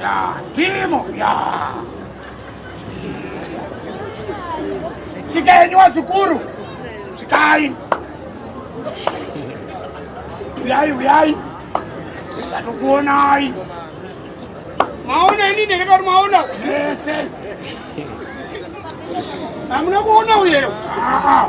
Yeah, Timo, yeah. Tsika yenyu wazukuru, tsikai. Uyai, uyai. Ndatokuonai. Maona ini ndakati kuti maona. Mese. Hamuna kuona uyero. Ah. ah.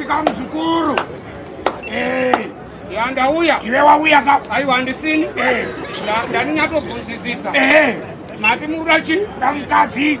Shika mzukuru. Eh. Ya ndauya. Iwe wauya ka? Aiwa handisini. Eh. Ndani nyatobvunzisisa. Eh. Mati murura chii? Ndamukadzi.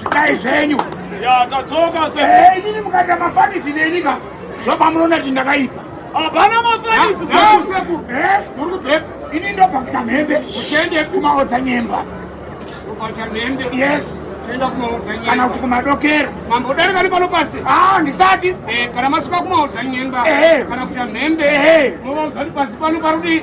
zvitai zvenyu yatadzoka se eh, inini mukaita mafanisi nenika zvapamunoona kuti ndakaipa hapana mafanisi sekuru eh? muri kubvepa ini ndobva kuchamhembe kuende kumaodza nyemba yes kana kuti kumadokero mambodarika nepano pasi ah, handisati eh, kana masuka kumaudza nyemba eh. kana kuita mhembe movaudza kuti pasi pano parudii